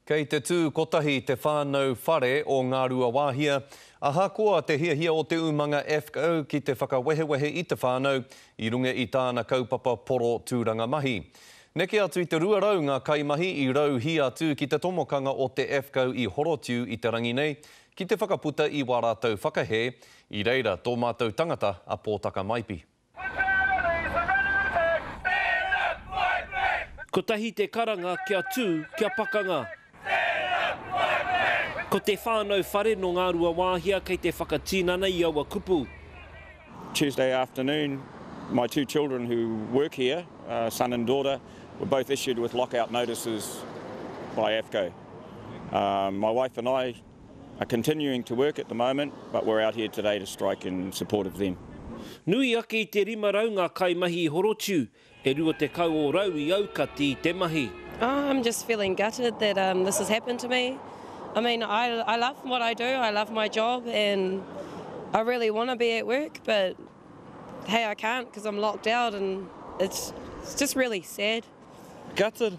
Kei te tū kotahi te whānau whare o Ngāruawāhia. Ahakoa te hiahia o te umanga AFCO ki te whakawehewehe i te whānau i runga i tāna kaupapa poro tūranga mahi. Neke atu i te 200 ngā kaimahi i rauhī atu ki te tomokanga o te AFCO i Horotiu i te rangi nei ki te whakaputa i wā rātou whakahē, i reira tō mātou tangata a Pōtaka Maipi. Kotahi te karanga kia tū, kia pakanga. Ko te whānau whare nō Ngāruawāhia kei te whakatinana i aua kupu. Tuesday afternoon, my two children who work here, son and daughter, were both issued with lockout notices by AFCO. My wife and I, Nui ake i te 500 ngā kaimahi i horotiu, e 20 o rau i aukati i te mahi. Gutted,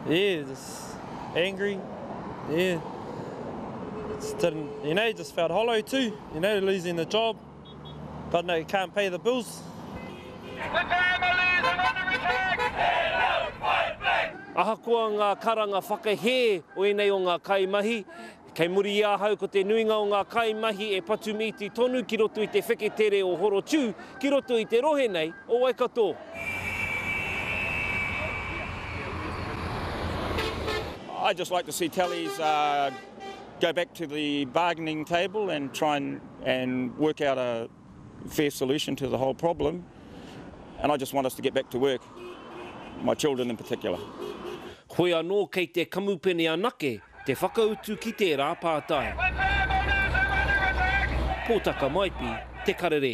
yeah, just angry, yeah, just didn't, you know, just felt hollow too, you know, losing the job, but no, can't pay the bills. Ahakoa ngā karanga whakahē o ēnei o ngā kaimahi, Kei muri i ahau ko te nuinga o ngā kaimahi e patu mīti tonu ki roto i te wheketere o Horotiu ki roto i te rohe nei o Waikato. I just like to see Kelly's uh, go back to the bargaining table and try and, and work out a fair solution to the whole problem. And I just want us to get back to work, my children in particular. Hoi anō kei te kamupene anake Te whakautu ki tērā pātai. Pōtaka Maipi, Te Karere.